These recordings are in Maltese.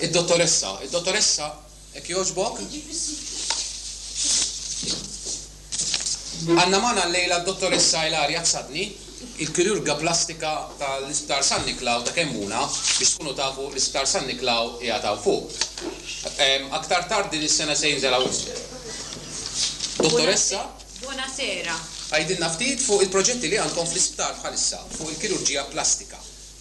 Id-dottoressa, id-dottoressa, hekk jogħġbok. Għandna magħna llejla d-dottoressa Ilaria Zzadni, il-kirurga plastika tal-Isptar San Niklaw ta' Kemmuna, biex tkunu tafu l-Isptar San Niklaw qiegħed hawn fuq. Aktar tard din is-sena se jinżel hawn isfel. Dottoressa. Bunasera. Għidilna ftit fuq il-proġetti li għandkom fl-isptar bħalissa fuq il-kirurġija plastika.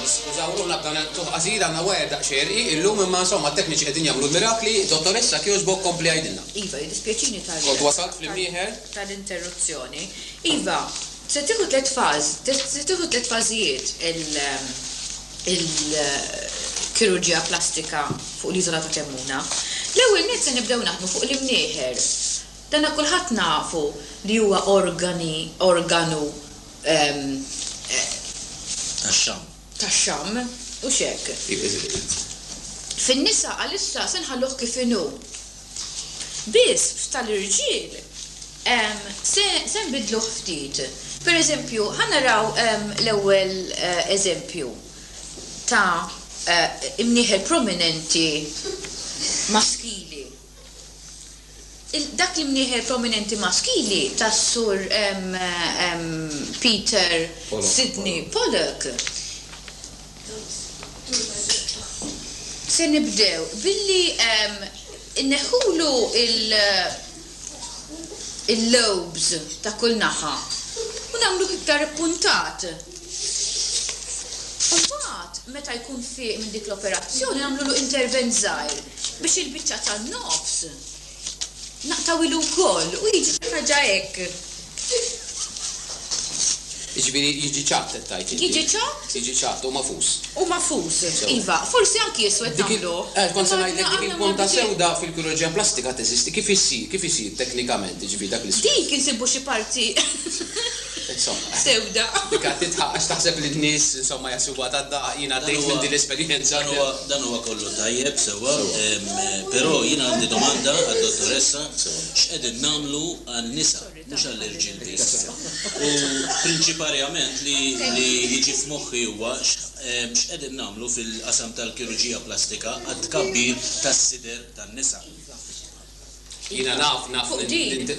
Niskużaw ruħna b'dan il-qtugħ qasir, għandna wire daqsxejn rqiq illum imma insomma t-tekniċi qegħdin jagħmlu l-mirakli. Dottoressa, jekk jogħġbok kompli għidilna. Iva, jiddispjaċini tal-, Kont wasalt fl-imnieħer. tal-interruzzjoni. Iva, se tieħu tliet faż, se tieħu tliet fażijiet il-kirurġija plastika fuq l-Iżola ta' Kemmuna. L-ewwel nett se nibdew naħdmu fuq l-imnieħer. Dana kulħadd nafu li huwa organi, organu, Tax-xamm. tax-xamm, hux hekk? Fin-nisa għalissa se nħalluh kif inhu. Biss f'tal-irġiel se se nbiddluh ftit. Per eżempju, ħa naraw l-ewwel eżempju ta' imnieħer prominenti maskili. Dak l-imnieħer prominenti maskili ta' Sur Peter Sidney Pollock. Se nibdew billi nneħħulu l-lobes ta' kull naħa u nagħmluh iktar ippuntat. U mbagħad, meta jkun fieq minn dik l-operazzjoni nagħmlulu intervent żgħir biex il-biċċa tan-nofs naqtgħuhilu wkoll u jiġi xi ħaġa hekk. Jiġifieri jiġi ċatt qed tgħid inti? Jiġi ċatt. Jiġi ċatt u magħfus. U magħfus, iva. Forsi anki iswed nagħmluh. Eh, kont se ngħidlek dik il-punta sewda fil-kirurġija plastika teżisti. Kif issir? Kif isir teknikament, jiġifieri dak l-iswed? Dik insibu xi parti. Insomma. Sewda. Dik għad tidħaq għax taħseb li n-nies insomma jaħsubuha ta' daqq, jien għaddejt minn din l-esperjenza. Dan huwa kollu tajjeb, sewwa, però jien għandi domanda għad-Dottoressa, x'qegħdin nagħmlu għan-nisa, mhux għall-irġiel biss? U prinċiparjament li jiġi f'moħħi huwa x'qegħdin nagħmlu fil-qasam tal-kirurġija plastika għat-tkabbir tas-sider tan-nisa? Jiena naf, naf,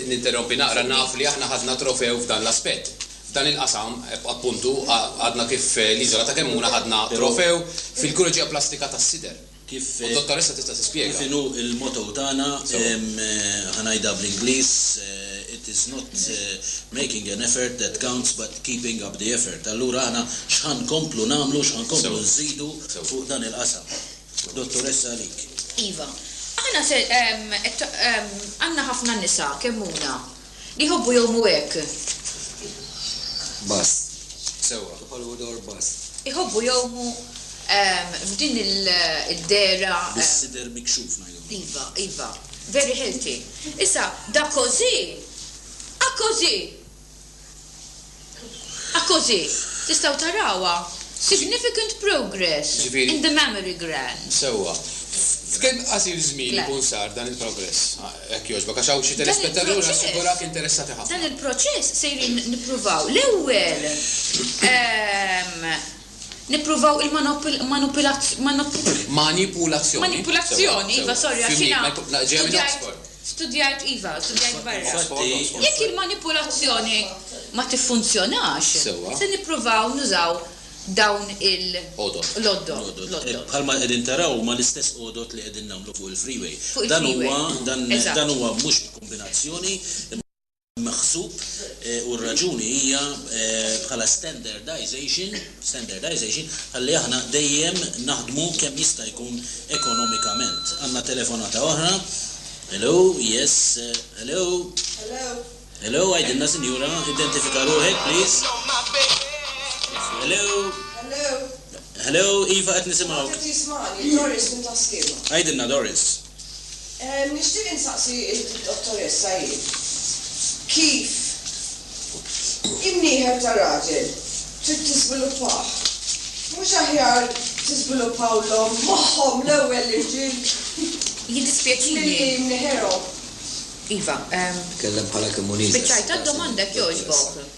ninterrompi naqra, naf li aħna ħadna trofew f'dan l-aspett. F'dan il-qasam, appuntu, għadna kif l-Iżola ta' Kemmuna ħadna trofew fil-kirurġija plastika tas-sider. U d-Dottoressa tista' tispjega. Kif inhu l-motto tagħna, ħa ngħidha bl-Ingliż, it is not making an effort that counts but keeping up the effort. Allura aħna x'ħa nkomplu nagħmlu, x'ħa nkomplu nżidu fuq dan il-qasam. U dottoressa għalik. Iva. Aħna se, għandna ħafna nisa, kemm huna, li jħobbu jgħumu hekk. Bass. Sewwa, kif qalu Dr. Bass. Iħobbu jgħumu f'din id-dehra. Bis-sider mikxuf ngħidulhom. Iva, iva. Very healthy. Issa, dakożì, akożì! Akkożi, tistgħu tarawha, significant progress in the mammary gland. Sewwa. F'kemm qasir żmien ikun sar dan il-progress? Jekk jogħġbok, għax hawn xi telespettatur nassigurah interessati ħafna. Dan il-proċess sejrin nippruvaw l-ewwel nippruvaw il-manipulazzjoni. Manipulazzjoni, iva, sorry, għax jiena studjajt, iva, studjajt barra. Jekk il-manipulazzjoni ma tiffunzjonax, se nippruvaw nużaw dawn il-għodod. Bħalma qegħdin taraw huma l-istess għodod li qegħdin nagħmlu fuq il-freeway. Dan huwa, dan huwa mhux b'kombinazzjoni. maħsub u r-raġuni hija bħala standardization, standardization, ħalli aħna dejjem naħdmu kemm jista' jkun ekonomikament. Għandna telefonata oħra. Hello, yes, hello. Hello, għidilna sinjura, identifika ruħek please. Hello. Hello, iva qed nisimgħuk. Doris minn Taskiema. Għidilna Doris. Nixtieq insaqsi lid-dottoressa jien, kif in-nieħel ta' raġel trid tiżviluppah? Mhux aħjar tiżviluppawlhom moħħhom l-ewwel l-irġiel milli mnieħerhom? Iva. Tkellem bħala kemmunista. Spiċċajt għad-domanda jekk jogħġbok.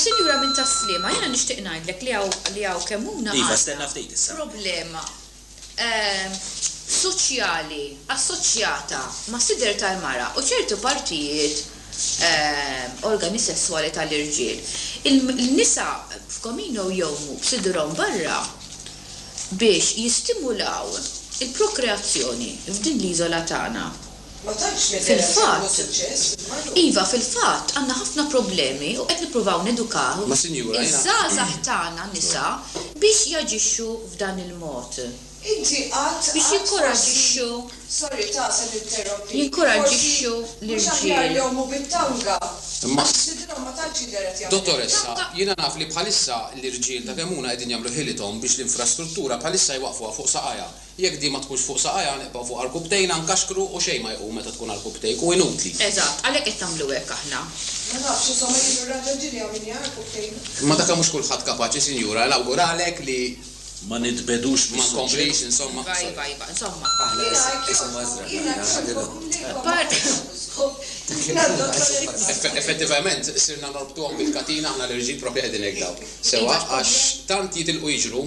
Sinjura minn Tas-Sliema, jiena nixtieq ngħidlek li hawn li hawn kemm huna għandna problema soċjali assoċjata mas-sider tal-mara u ċertu partijiet organi sesswali tal-irġiel. Il-nisa f'Comino jgħumu b'sidrhom barra biex jistimulaw il-prokreazzjoni f'din l-iżola tagħna. Fil-fatt, iva, fil-fatt, għandna ħafna problemi u qed nippruvaw nedukaw iż-żgħażagħ tagħna nisa biex jaġixxu f'dan il-mod, biex jinkoraġġixxu, jinkoraġġixxu l-irġiel. Jekk din ma tkunx fuq saqajha, nibqgħu fuq arkubbtejna, nkaxkru u xejn ma jqum meta tkun arkubbtejk, hu inutli. Eżatt, għalhekk qed tagħmlu hekk aħna. Ma nafx, iżda ma jidhru r-raġunti li hawn min jaqgħa arkubbtejnu. Imma dak mhux kulħadd kapaċi, sinjura, e nawguralek li. Ma nitbegħdux mis-suġġett. Ma nkomplix, insomma, sorry. Iva, iva, iva, insomma. Aħna isimha Eżra, aħna ħadilhom. Effettivament, sirna norbtuhom bil-katina aħna l-irġiel proprju qegħdin hekk dawk. Sewwa, għax tant jitilqu jiġru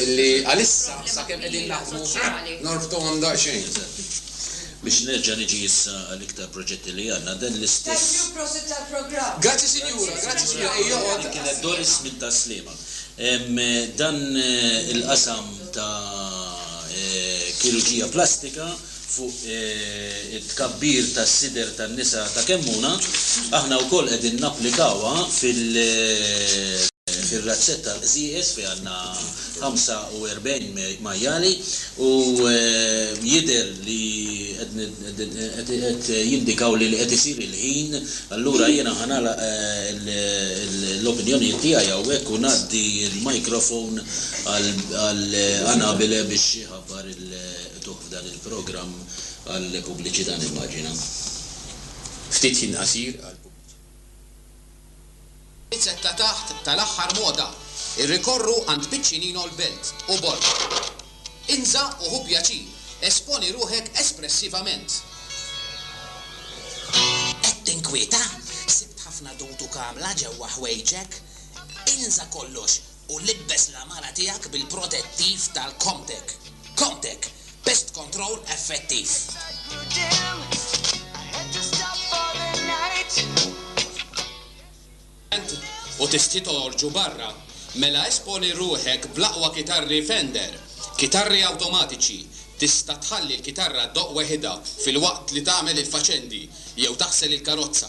illi għalissa sakemm qegħdin naħdmu norbtuhom daqsxejn. Biex nerġa' niġi issa għall-iktar proġetti li għandna, dan l-istess. Grazzi sinjura, grazzi sinjura, ejja oqgħod. Dik kienet Doris minn Tas-Sliema. Dan il-qasam ta' kirurġija plastika fuq it-tkabbir tas-sider tan-nisa ta' Kemmuna, aħna wkoll qegħdin napplikawha fir-razzett tal-qżieqeż fejn għandna 45 majjali u jidher li qed jindikaw li qed isir il-ħin. Allura jiena ħa nagħlaq l-opinjonijiet tiegħi hawnhekk u ngħaddi l-microphone għal Anabile biex iħabbar il-, Qrajtuh f'dan il-programm għall-pubbliċità nimmaġina. Ftit ħin qasir għall-pubbliċità. It-tliet ta' taħt tal-aħħar moda irrikorru għand Piccinino l-belt u Borg. Inża u ħu pjaċir, esponi ruħek espressivament. Qed tinkwieta? Sibt ħafna dutu kamla ġewwa ħwejġek? Inża kollox! u libbes l-għamara tiegħek bil-protettiv tal-Comtec. Comtec, pest control effettiv. Int u tixtieq toħorġu barra? Mela esponi ruħek bl-aqwa kitarri Fender. Kitarri awtomatiċi, tista' tħalli l-kitarra ddoqq weħidha filwaqt li tagħmel il-faċendi jew taħsel il-karozza.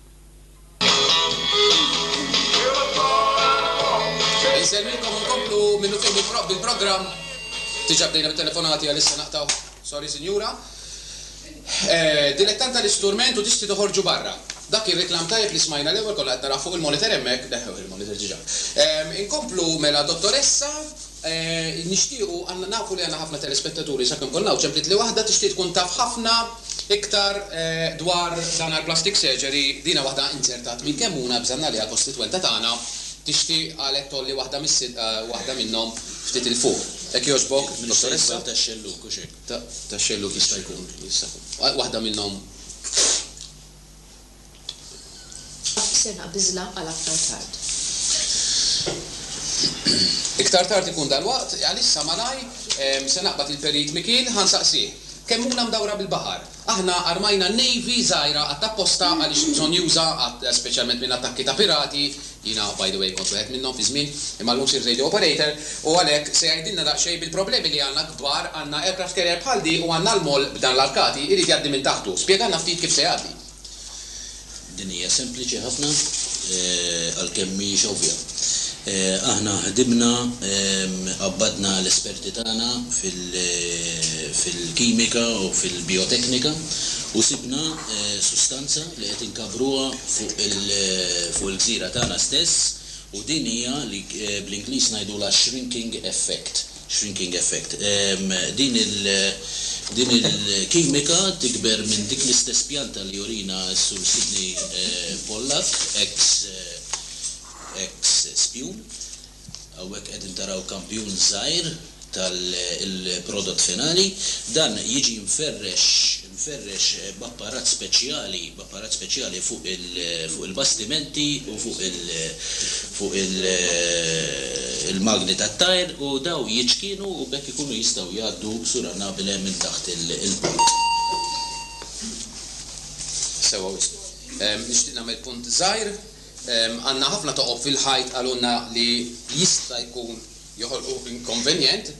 Insellmilkom u nkomplu minnufih bil-propp bil-programm. Diġa bdejna bit-telefonati għalissa naqtgħu. Sorry sinjura. Dilettant tal-isturment u diski toħorġu barra. Dak kien reklam tajjeb li smajna l-ewwel konna qed naraw fuq il-monitor hemmhekk, neħħewh il-monitor diġa. Inkomplu mela dottoressa. Nixtiequ, għandna nafu li għandna ħafna telespettaturi, sakemm konna hawn, ċempliet li waħda tixtieq tkun taf ħafna iktar dwar dan għall-plastic surgery, dina waħda inzertat minn kemm hu nabża nagħliha kostitwenta tagħna tixtieq qalet tgħolli waħda mis-sidqa waħda minnhom ftit 'il fuq. Hekk jogħġbok dottoressa? Mistejqbel tax-xellug, hux hekk? Tax-xellug jista' jkun, jista' jkun. Waħda minnhom. Ser naqbiżlha għal aktar tard. Iktar tard ikun dalwaqt, għalissa malajr se naqbad lil Perit Mikiel, ħa nsaqsih. Kemmuna mdawra bil-baħar. Aħna armajna navy żgħira għad apposta għaliex bżonn juża għad speċjalment minn attakki ta' pirati, jiena by the way kont wieħed minnhom fi żmien, imma llum sirt radio operator, u għalhekk se jgħidilna daqsxejn bil-problemi li għandna kbar, għandna aircraft carrier bħal di u għandna l-moll b'dan l-arkati jrid jgħaddi minn taħtu. Spjegalna ftit kif se jgħaddi. Din hija sempliċi ħafna, għalkemm mhijiex ovvja. Aħna ħdimna, qabbadna l-esperti tagħna fil-kimika u fil-bijoteknika u sibna sustanza li qed inkabbruha fuq il-gżira tagħna stess u din hija li bl-Ingliż ngħidulha shrinking effect. Shrinking effect. Din il-kimika tikber minn dik l-istess pjanta li jurina s-Sur Sidney Pollack, ex spjun. Hawnhekk qegħdin taraw kampjun żgħir tal-prodott finali. Dan jiġi mferrex b'apparat speċjali, Apparat speċjali fuq il-bastimenti u fuq il-magni tat-tajr u dawn jiċkienu u b'hekk ikunu jistgħu jgħaddu suranabile minn taħt il-port. Sewwa wisq. Nixtieq nagħmel punt żgħir. Għandna ħafna toqob fil-ħajt qalulna li jista' jkun. joħolqu inkonvenjent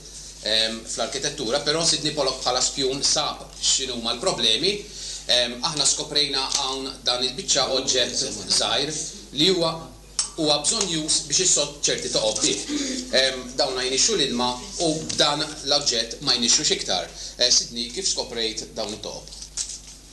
fl-arkitettura, però Sidney Pollock bħala spjun sab x'inhuma l-problemi. Aħna skoprejna hawn dan il-biċċa oġġett żgħir li huwa huwa bżonnjuż biex is-sod ċerti toqgħod bih. Dawna jnixxu l-ilma u b'dan l-oġġett ma jnixxux iktar. Sidney, kif skoprejt dawn it-toqob?